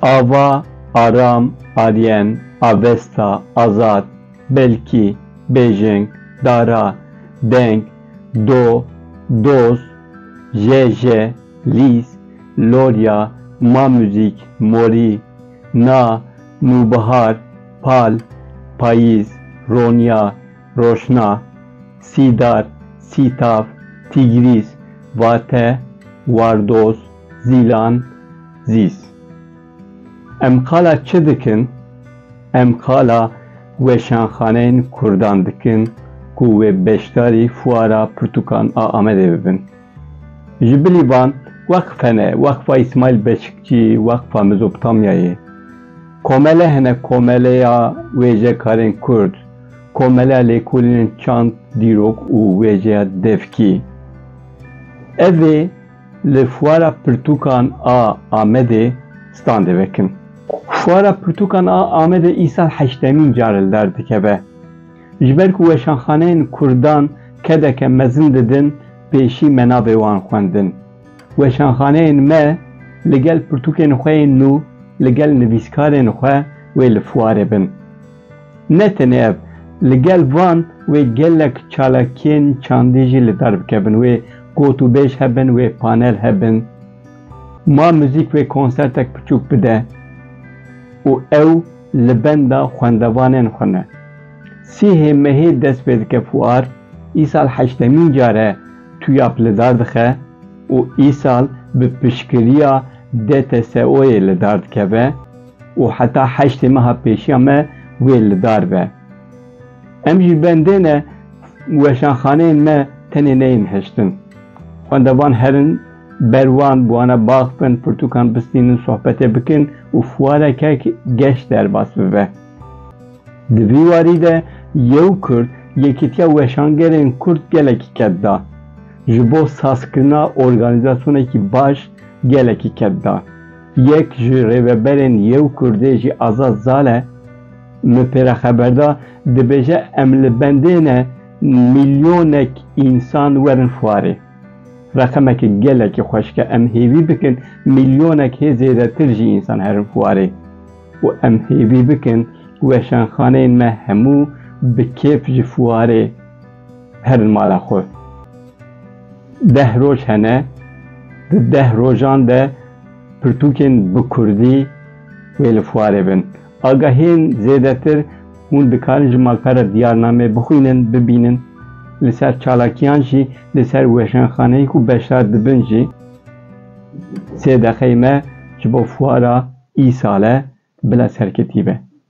Ava, Aram, Aryen, Avesta, Azad, Belkî, Bêjeng, Dara, Deng, Do, Doz, Jeje, Lîs, Lorya, Ma Muzîk, Morî, Na, Nûbihar, Pal, Payîz, Ronya, Roşna, Sîdar, Sîtav, Tîgrîs, Vate, Wardoz, Zîlan, Zîs. Em qala çi dikin? Em qala weşanxaneyên kurdan dikin ku wê beşdarî fuara pirtûkan a Amedê bibin. Ji bilî van, Weqfe ne, Weqfa Îsmaîl Beşikçî, Weqfa Mezopotamyayê. Komele hene, Komeleya Wêjekarên Kurd, Komeleya Lêkolînên Çand, Dîrok û Wêjeya Devkî. Ev ê li Fuara Pirtûkan a Amedê standê vekin. Fuara Pirtûkan a Amedê îsal heştemîn car li dar dikeve. Ji ber ku weşanxaneyên kurdan kedeke mezin didin pêşî me nabê wan xwendin. Weşanxaneyên me li gel pirtûkên xwe yên nû li gel nivîskarên xwe wê li fuarê bin. Ne tenê ev, li gel van wê gelek çalakiyên çandî jî li dar bikevin, wê gotûbêj hebin, wê panel hebin, ma muzîk wê konsertek piçûk bide û ew, Li benda xwendevanên xwe me. Sihê mehê dest pê dike fuar, îsal heştemîn car e TUYAP li dar dixe û îsal bi piştgiriya DTSO'yê li dar dikeve û heta heştê meha pêşiya me wê li dar be. Em ji bendê ne weşanxaneyên me tenê neyên hiştin. Xwendevan herin. Ber wan bi wana bax bin, pirtûkan bistînin, sohbetê bikin û fuareke geş derbas bibe. Di vî warî de Yew Kurd yekîtiya weşangerên Kurd gelekî ked da. Ji bo sazkirina organîzasyonekî baş gelekî ked da. Yek ji rêveberên Yew Kurdê jî Azad Zale min pê re xeber da, dibêje em li bendê ne milyonek însan werin fuarê. Reqemekî gelekî xweş ke em hêvî bikin mîlyonek hê zêdetir jî însan herin xwarê û em hêvî bikin weşanxaneyên me hemû bi kêf ji xwarê herin mala xwe. Deh roj hene, di deh rojan de pirtûkên bi kurdî wê li xwarê bin. Agahiyên zêdetir hûn dikarin ji malpera diyarnameyê bixwînin, bibînin, li ser çalakiyan jî li ser weşanxaneyê ku beşdar dibin jî. Sê deqeyê me ji bo fuara îsale bila serketî be.